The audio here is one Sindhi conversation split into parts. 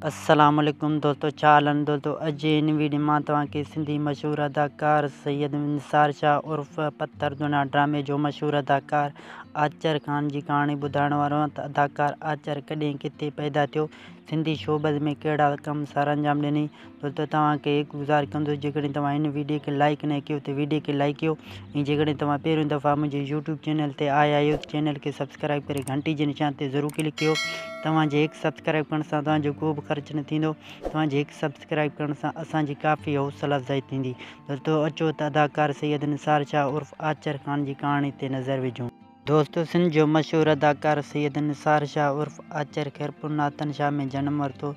السلام عليڪم دوستو ڇا حال آھن دوستو اڄ جي ھن ويڊيو مان توھان کي سنڌي مشھور اداڪار سيد نثار شاھ عرف پٿر دنيا ڊرامي جو مشھور اداڪار آچر خان جي ڪھاڻي ٻڌائڻ وارو آھيان ته اداڪار آچر ڪڏھن ڪٿي پيدا ٿيو سنڌي شوبز ۾ ڪھڙا ڪم سرانجام ڏني ٿو ته توهان کي گذار ڪندس جيڪڏهن توهان هن ويڊيو کي لائيڪ ناهي ڪيو ته ويڊيو کي لائيڪ ڪيو ۽ جيڪڏهن توهان پهريون دفعا منهنجي يوٽيوب چينل تي آيا آهيو ته چينل کي سبسڪرائيب ڪري گهنٽي جي نشان تي ضرور ڪلڪ ڪيو توهان جي هڪ سبسڪرائيب ڪرڻ سان توهان جو ڪو به خرچ نه ٿيندو توهان جي هڪ سبسڪرائيب ڪرڻ سان اسان جي ڪافي حوصلا افزائي ٿيندي دوستو اچو ته اداڪار سيد نثار شاهه عرف آچر خان جي ڪهاڻي تي نظر وجهون. دوستو سنڌ جو مشهور اداڪار سيد نثار شاهه عرف آچر خيرپور ناتن شاهه ۾ جنم ورتو.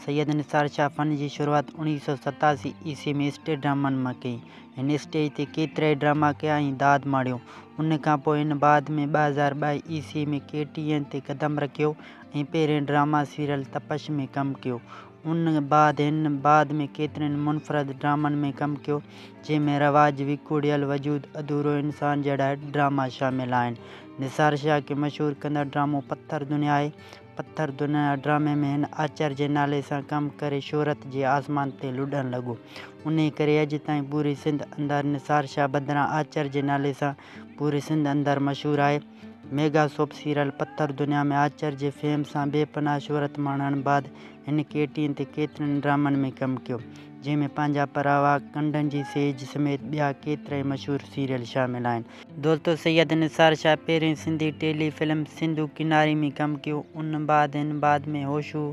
سيد نثار شاهه فن جي شروعات اوڻيهه سؤ ستاسي عيسوي ۾ اسٽيج ڊرامن مان ڪئي. هن اسٽيج تي ڪيترائي ڊراما ڪيا ۽ داد ماڻيو. ان کان پوء هن بعد ۾ ٻه هزار ٻه عيسوي ۾ ڪي ٽي اين تي قدم رکيو ۽ پهرين ڊراما سيريل تپش ۾ ڪم ڪيو. ان بعد هن بعد ۾ ڪيترن منفرد ڊرامن ۾ ڪم ڪيو، جنهن ۾ رواج، وڪوڙيل وجود، اڌورو انسان جهڙا ڊراما شامل آهن. نثار شاهه کي مشهور ڪندڙ ڊرامو پٿر دنيا آهي. پٿر دنيا ڊرامي ۾ هن آچر جي نالي سان ڪم ڪري شهرت جي آسمان تي لڏڻ لڳو. انهيء ڪري اڄ تائين پوري سنڌ اندر نثار شاهه بدران آچر جي نالي سان پوري سنڌ اندر مشهور آهي. Mega soap serial Pathar Duniya ۾ آچر جي فيم سان بي پناهه شهرت ماڻڻ بعد هن ڪي ٽي اين تي ڪيترن ڊرامن ۾ ڪم ڪيو، جنهن ۾ پنهنجا پراوا، ڪنڊن جي سيج سميت ٻيا ڪيترائي مشهور سيريل شامل آهن. دوستو سيد نثار شاهه پهرين سنڌي ٽيلي فلم سنڌو ڪناري ۾ ڪم ڪيو، ان بعد هن بعد ۾ هوشو،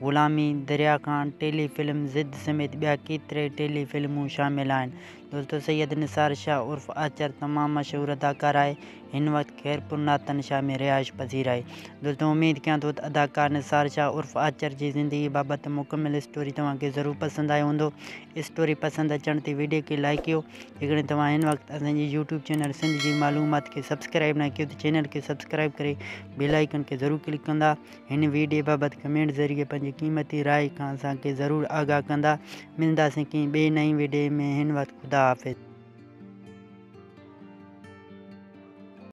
غلامي، دريا خان، ٽيلي فلم ضد سميت ٻيا ڪيترائي ٽيلي فلمون شامل آهن، دوستو سيد نثار شاهه عرف آچر تمام مشهور اداڪار آهي هن وقت خيرپور ناتن شاهه ۾ رهائش پذير آهي دوستو اميد ڪيان ٿو ته اداڪار نثار شاهه عرف آچر جي زندگي بابت مڪمل اسٽوري توهان کي ضرور پسند آيو هوندو اسٽوري پسند اچڻ تي ويڊيو کي لائيڪ ڪيو جيڪڏهن توهان هن وقت اسان جي يوٽيوب چينل سنڌ جي معلومات کي سبسڪرائيب نه ڪيو ته چينل کي سبسڪرائيب ڪري بيل آئيڪن کي ضرور ڪلڪ ڪندا هن ويڊيو بابت ڪمينٽ ذريعي پنهنجي قيمتي راء کان اسان کي ضرور آگاهه ڪندا. ملنداسين ڪنهن ٻئي نئين ويڊيو ۾ هن وقت خدا حافظ.